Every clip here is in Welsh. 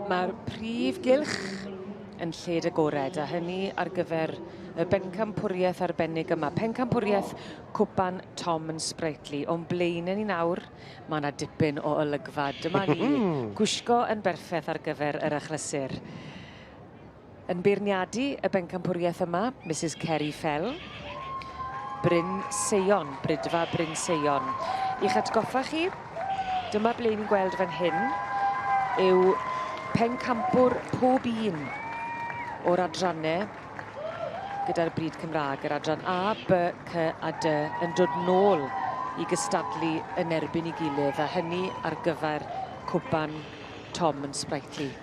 Mae'r prif gylch yn lled agored, a hynny ar gyfer y bencampwriaeth arbennig yma. Pencampwriaeth Cwpan Tom yn Spritely. O'n blaen ni nawr, mae yna dipyn o olygfa. Dyma ni, gwisgo yn berffaith ar gyfer yr achlysur. Yn beirniadu y bencampwriaeth yma, Misus Ceri Fell. Bryn Seion, Brydfa Bryn Seion. I'ch atgoffa chi, dyma ble ni'n gweld fan hyn yw pencampwr pob un o'r adrannau gyda'r bryd Cymraeg, yr adran A, B, C a D, yn dod nôl i gystadlu yn erbyn ei gilydd, a hynny ar gyfer cwpan Tom yn Sprightly.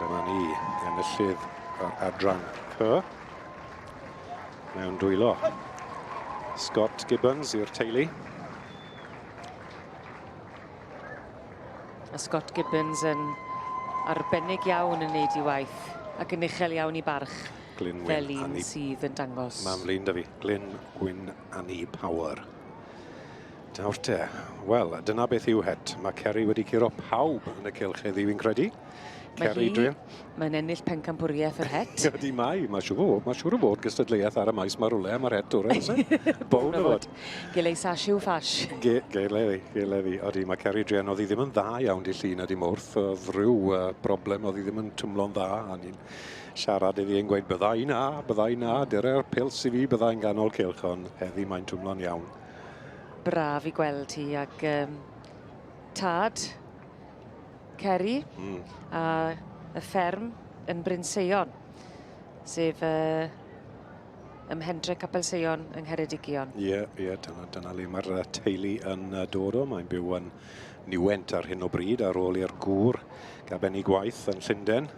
Dyma ni, enillydd o'r adran Y. Mewn dwylo. Scott Gibbons i'r teulu. A Scott Gibbons yn arbennig iawn yn neud i waith ac yn uchel iawn i barch Glyn Wyn fel un sydd yn dangos. Mam Lyn da fi, Glyn Wyn Annie Power. Nawr te, wel, dyna beth yw het. Mae Ceri wedi curo pawb yn y cylch heddiw i'n credu. Ceri, dwi'n... Mae'n ennill pencampwriaeth yr het. Ydy mae, mae siw fod, mae siwr o fod gystadleuaeth ar y maes mae rhywle am yr het o'r ense. Bown o fod. Gilei sash yw fash. Gilei, gilei. Ydy, mae Ceri Drian, oedd hi ddim yn dda iawn di llun a di mwrth, oedd rhyw uh, broblem, oedd hi ddim yn twmlo'n dda, a ni'n siarad iddi yn gweud, byddai na, byddai na, dyre'r pils i fi, byddai'n ganol cilch, ond heddi mae'n twmlo'n iawn. braf i gweld hi ac um, tad Ceri mm. a y fferm yn Bryn Seion, sef uh, ym Hendre Capel Seion yng Ngheredigion. Ie, yeah, ie, yeah, dyna, dyna le mae'r teulu yn dod o. Mae'n byw yn Niwent ar hyn o bryd ar ôl i'r gŵr gaben ei gwaith yn Llundain.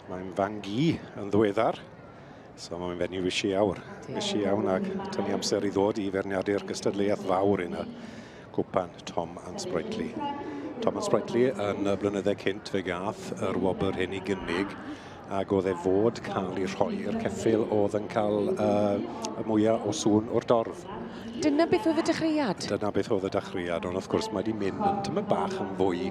Mae'n fangi yn ddweddar So mae'n mynd i fysi awr. Fysi iawn ac tynnu amser i ddod i ferniadu'r gystadleuaeth fawr yn y gwpan Tom and Sprightly. Tom and Sprightly yn y blynyddau cynt fe gath yr wobr hyn i gynnig ac oedd e fod cael ei rhoi i'r ceffil oedd yn cael uh, y mwyaf o sŵn o'r dorf. Dyna beth oedd y dechreuad? Dyna beth oedd y dechreuad, ond wrth gwrs mae wedi mynd yn tymor bach yn fwy...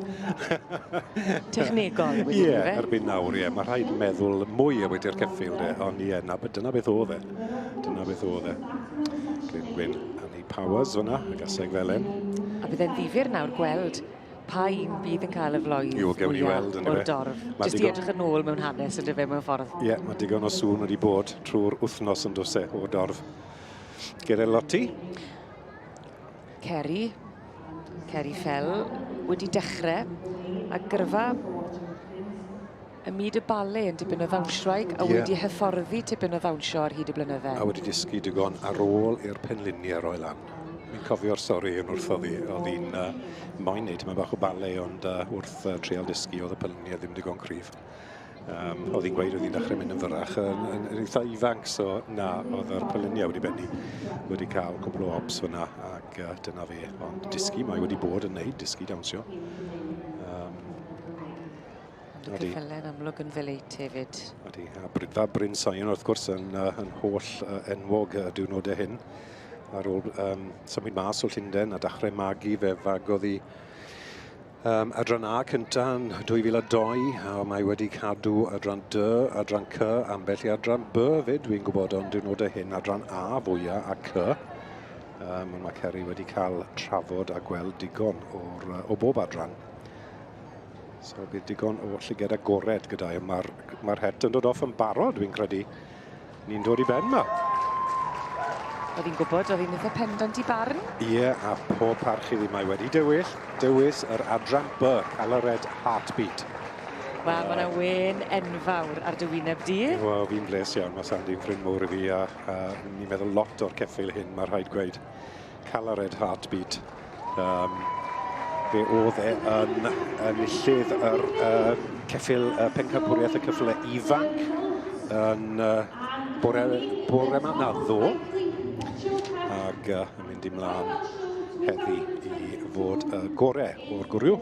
Technegol wedi yeah, fe? Ie, erbyn nawr, ie. Yeah. Mae rhaid meddwl mwy o wedi'r ceffil, de. ond ie, yeah, dyna beth oedd e. Dyna beth oedd e. Glyn Gwyn, Annie Powers fyna, y gaseg felen. A byddai'n ddifur nawr gweld pa un bydd yn cael y floedd Iw, gewn ni weld, o'r dorf. Jyst i edrych yn ôl mewn hanes yn dyfe mewn ffordd. Ie, yeah, mae digon o sŵn wedi bod trwy'r wythnos yn dwse o'r dorf. Gerellotti. Ceri. Ceri Fell wedi dechrau a gyrfa y myd y bale yn dipyn o ddawnsioeg a wedi yeah. hyfforddi tipyn o ddawnsio ar hyd y blynydde. A wedi dysgu digon ar ôl i'r penluni ar oel lan. Mi'n cofio'r stori yn wrth oddi, oedd hi'n uh, moyn neud yma bach o bale, ond uh, wrth uh, treol dysgu oedd y penluni a ddim digon cryf. Um, oedd hi'n gweud oedd hi'n dechrau mynd yn fyrrach yn, yn, yn eitha ifanc, so na, oedd yr pyluniau wedi benni wedi cael cwbl o obs fyna ac uh, dyna fe, ond disgu mae wedi bod yn neud, disgu dawnsio. Um, Ydy. Cyffelen amlwg yn feleit hefyd. Ydy, a Brydfa Bryn Sion wrth gwrs yn, uh, yn holl uh, enwog y diwrnodau hyn. Ar ôl um, symud mas o Llundain a dachrau magu fe fagodd i Um, adran A cynta yn 2002, a mae wedi cadw adran D, adran C, ambell i adran B fyd, dwi'n gwybod, ond dwi'n nod y hyn adran A fwyaf a C. Um, mae Ceri wedi cael trafod a gweld digon o'r, o bob adran. So bydd digon o llyged agored gyda i. Mae'r mae het yn dod off yn barod, dwi'n credu. Ni'n dod i ben ma. Oedd hi'n gwybod, oedd hi'n eitha pendant i barn. Ie, yeah, a pob parch iddi mae wedi dywyll, dywys yr adran B, cael y red heartbeat. Wel, uh, mae'n wen enfawr ar dy wyneb di. Wel, fi'n bles iawn, mae Sandi'n ffrind mowr i fi, a, a ni'n meddwl lot o'r ceffeil hyn, mae rhaid gweud. Calared Heartbeat. Um, fe oedd e yn enillydd yr uh, ceffil uh, pencampwriaeth y cyffle ifanc yn uh, bore, bore ma na ddo ac uh, yn mynd i mlaen heddi i fod y gore o'r gwrw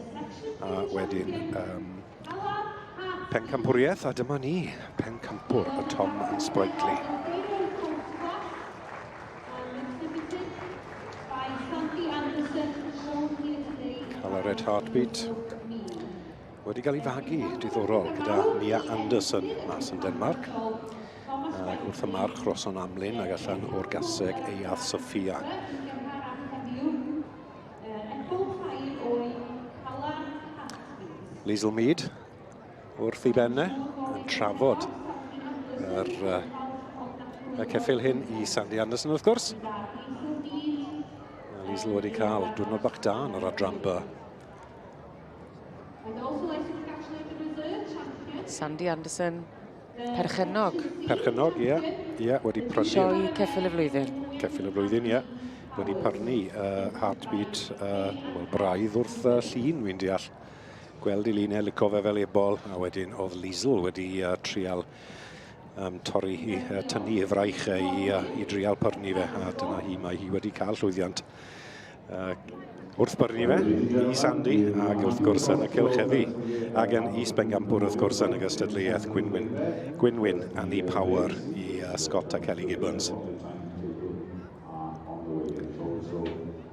a wedyn um, pencampwriaeth a dyma ni pencampwr y Tom yn Sprightly. Cael y Red Heartbeat. Wedi cael ei fagu, diddorol, gyda Mia Anderson mas yn Denmark. Ac wrth y march roson amlyn ag allan o'r gaseg ei ath Sofia. Liesl Mead wrth i benne yn trafod yr, uh, y ceffil hyn i Sandy Anderson wrth gwrs. Mae Liesl wedi cael diwrnod bach da yn yr adran by. Sandy Anderson, perchenog. Perchenog, ie. Yeah. Ie, yeah, wedi prynu... Sioi ceffil y flwyddyn. Ceffil y flwyddyn, ie. Yeah wedi parnu uh, heartbeat uh, well, braidd wrth uh, llun, wy'n deall. gweld i Lee Ned lico fe fel ebol, a wedyn oedd Liesl wedi uh, trial um, torri i uh, tynnu i fraich uh, i, uh, i drial pyrnu fe, a dyna hi, mae hi wedi cael llwyddiant uh, wrth byrnu fe i Sandy, ac wrth gwrs yn y cylcheddi, ac yn Is Bengampwr wrth gwrs yn y gystadleuaeth Gwynwyn, Gwynwyn and the Power i uh, Scott a Kelly Gibbons.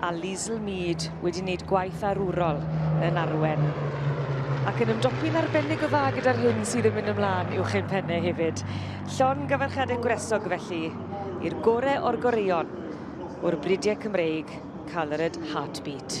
a Liesl Mead wedi wneud gwaith arwrol yn arwen. Ac yn ymdopi'n arbennig o dda gyda'r hyn sydd yn mynd ymlaen i'w chyn penne hefyd. Llon gyfarchadau gwresog felly i'r gore o'r goreion o'r bridiau Cymreig, Coloured Heartbeat.